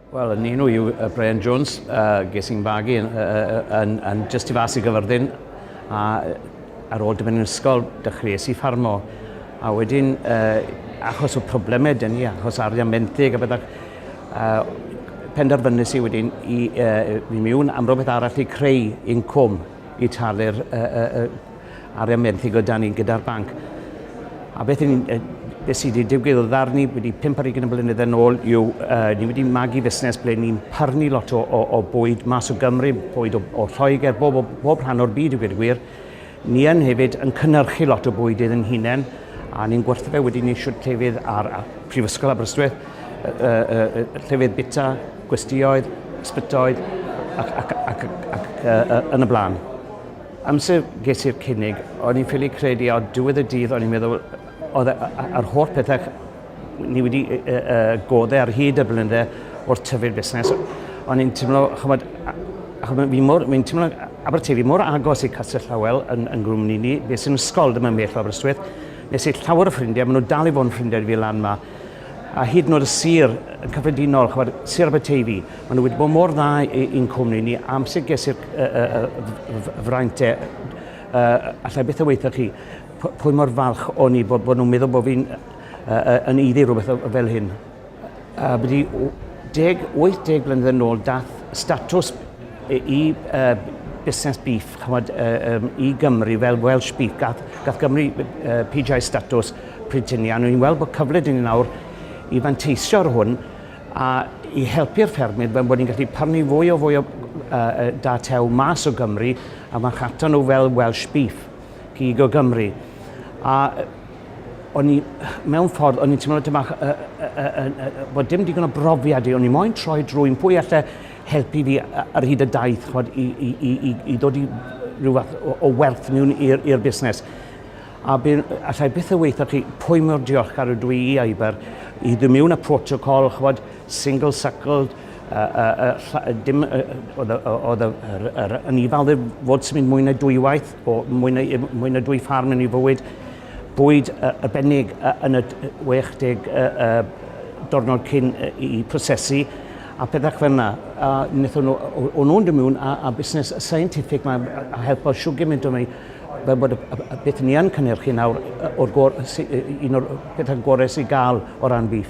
Wel, yn un yw uh, Brian Jones, uh, ges i'n fagu yn, uh, yn, yn just i fas i gyfyrddin, a ar ôl dyfyn yn ysgol, dechreuais i ffarmo. A wedyn, uh, achos o problemau dyn ni, achos arian menthyg a bethau, uh, penderfynus i wedyn i, uh, i miwn am rhywbeth arall i creu incwm i talu'r uh, uh, arian benthyg o dan ni gyda'r banc. A beth yn, uh, beth sydd wedi digwydd o ddar ni wedi 5 ar 20 blynedd yn ôl yw uh, ni wedi magu fusnes ble ni'n pyrnu lot o, o, o bwyd mas o Gymru, bwyd o, o Lloegr, bob, o, bob rhan o'r byd i gwir y gwir. Ni yn hefyd yn cynnyrchu lot o bwyd iddyn hunain a ni'n gwerthu fe wedyn ni siwt llefydd ar, ar Prifysgol Aberystwyth, uh, uh, uh, llefydd bita, gwestioedd, ysbytoedd ac, ac, ac, ac, ac uh, uh, yn y blaen. Amser ges i'r cynnig, o'n i'n ffili credu a ar diwedd y dydd o'n i'n meddwl oedd e, a- a- a'r holl pethau ni wedi yy yy godde ar hyd y blynydde wrth tyfu'r busnes, o'n i'n timlo, ch'mod, a- achos fi mor, fi'n timlo Aberteifi mor agos i Castell Llawel yn yn Gwmni ni, bues i'n ysgol ddim yn bell o Aberystwyth, nes i llawer o ffrindiau, ma' nhw dal i fod yn ffrindiau i fi lan 'ma, a hyd yn oed y sir yn cyffredinol, chymod, sir Aberteifi, maen nhw wedi bod mor dda i'n cwmni ni, amser ges i'r fraint e, allai beth o weithio chi, pwy mor falch o'n i bod, bod nhw'n meddwl bod fi'n yn iddi rhywbeth fel hyn. A byddai 18 blynedd yn ôl dath statws i uh, busnes beef, chymod, uh, um, i Gymru fel Welsh beef, gath, gath Gymru uh, PGI statws pryd hynny, a ni'n weld bod cyfle 'da ni nawr i fanteisio ar hwn a i helpu'r ffermydd fel bod ni'n gallu prynu fwy o fwy o uh, da tew mas o Gymru a marchnata nhw fel Welsh Beef, gig o Gymru. A o'n i, mewn ffordd, o'n i'n teimlo dyn bach, uh, uh, uh, uh, bod dim digon o brofiad i, o'n i'n moyn troi drwy'n pwy allai helpu fi ar hyd y daith, chod, i, i, i, i, i ddod i rhyw fath o, o werth miwn i'r busnes. A bydd, allai byth y weithio chi pwy mor diolchgar ydw i i Iber i ddim yw na protocol, chwod, single suckled, uh, uh, uh, dim, uh, oedd y, oedd yr, yn i falde fod sy'n mynd mwy na dwywaith, o mwy na, mwy na dwy ffarm yn ei fywyd, bwyd uh, y benig uh, yn y 60 uh, uh, dornod cyn uh, i prosesu, a pethau fel yna. A wnaethon nhw, o'n nhw'n dymiwn a, a busnes scientific mae'n helpo siw gymaint o'n ei fel bod y beth ni yn cynhyrchu nawr o'r gor- sy- un o'r pethau gorau sy'n gael o ran beef.